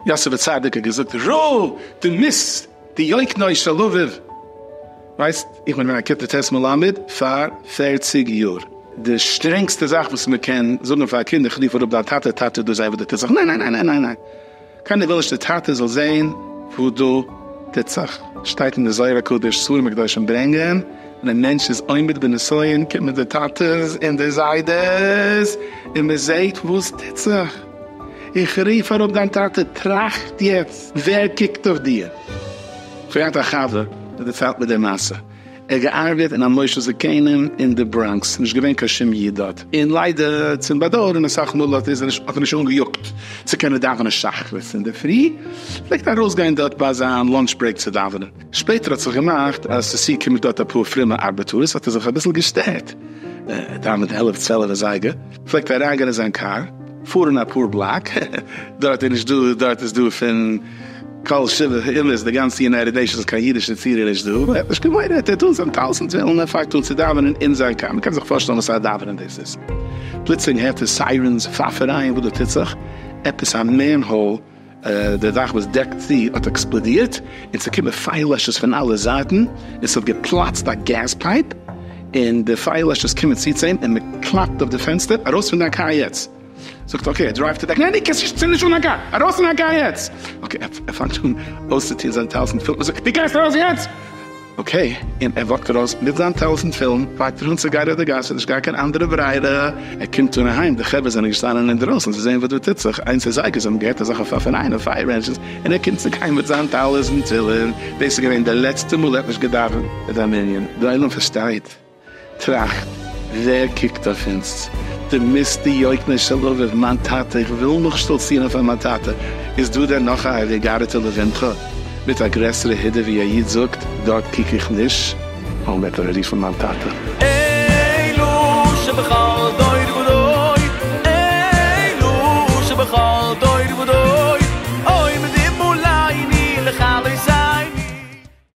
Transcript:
יוסף הצדיק האט געזאגט ר' דו מוזט דיוק נאר שאלאוויוו ווייסט איך בין געווען א כיתה ט' מלמד פאר פערציג יאר די שטרענגסטע זאך וואס מען קען זאגן פאר א קינד איך רוף אראפ דיין טאטע טאטע דו זיי וואס דו טוסט זיך ניין ניין ניין ניין ניין ניין. קיינער וויל נישט די טאטע זאל זעהן וואס דא טוט זיך, שטייט אין די זוהר הקדוש, ספרים הקדושים ברענגען, ווען א מענטש איז עומד בנסיון קומען די טאטעס און די זיידעס און מען זעהט וואס טוט זיך, איך רוף אראפ דיין טאטע, טראכט יעצט ווער קוקט אויף דיר. כ'האב געהאט א חבר, ער דערציילט מיר די מעשה, ער האט געארבעט אין א מושב זקנים אין די בראנקס, נישט געווען קיין שום איד דארט, און ליידער צום באדויערן אסאך מאל האט ער זיך נישט אנגעיאגט צו קענען דאווענען שחרית אינדערפרי, פלעגט ארויסגיין דארט ביי זיין לאנטש ברעיק צו דאווענען, שפעטער האט זיך געמאכט אז עס צוקומען דארט אפאר פרומע ארבעטארס האט ער זיך אביסל געשטערט, ער דאווענט עלף צוועלף אזייגער. פלעגט אריין גיין אין זיין קאר פארן אפאר בלאק דארט איז נישט דא דארט איז דא פון כל שבע אומות די גאנצע יונייטעד נעישאנס קיין אידיש נצירי איז נישט דא ער האט נישט געוואוינט ער האט אן זיין טלית און תפילין און פאנגט אן צו דאווענען אין זיין קאר מ'קען זיך פארשטעלן וואסארא דאווענען דאס איז פלוצלינג הערט ער סיירענס פאפערייען וואס דא טוט זיך עפעס א מענהאול די דאך וואס דעקט צו האט עקספלאדירט און ס'איז געקומען פייער לעשערס פון אלע זייטן און ס'האט געפלאצט א געז פייפ און די פייער לעשערס קומען צו צו אים און מ'קלאפט אויף די פענסטער, ארויס פון דיין קאר יעצט! זאגט ער אקעי, ער דרייווט אוועק, ניין די קענסט נישט צינד נישט אן א קאר, ארויס פון דיין קאר יעצט! אקעי, ער פאנגט אן אויסצוטון זיינע טלית און תפלות און זאגט, די גייסט ארויס יעצט! אקעי, און ער וואקט ארויס מיט זיין טלית ותפילין, פאקט איר אן צו גיין אויף די גאס, ס'איז נישט גאר קיין אנדערע ברירה, ער קומט אן אהיים, די חברה זענען געשטאנען אינדרויסן צו זען וואס דא טוט זיך, איינס איז זיי געזאגן, געהערט אזעלכע פאפענאיינע פייער ענדזשינס, און ער קומט צו גיין מיט זיין טלית ותפילין, דאס איז געווען די לעצטע מאל ער האט נישט געדאווענט אין זיין מנין, די עולם פארשטייט. טראכט, ווער קוקט אויף אונז? די מיסטער יויקנער של לבב, מיין טאטע, איך וויל נאך שטאלצירן אויף מיין טאטע, איז דא דען נאך א ה'געגערעטע לבינך מיט א גרעסערע הידור ווי א איד זאגט, דארט קוק איך נישט. און וועט ער רופן מיין טאטע. אלו שבכל דור ודור, אלו שבכל דור ודור, עומדים מול עיני לכלות עיני.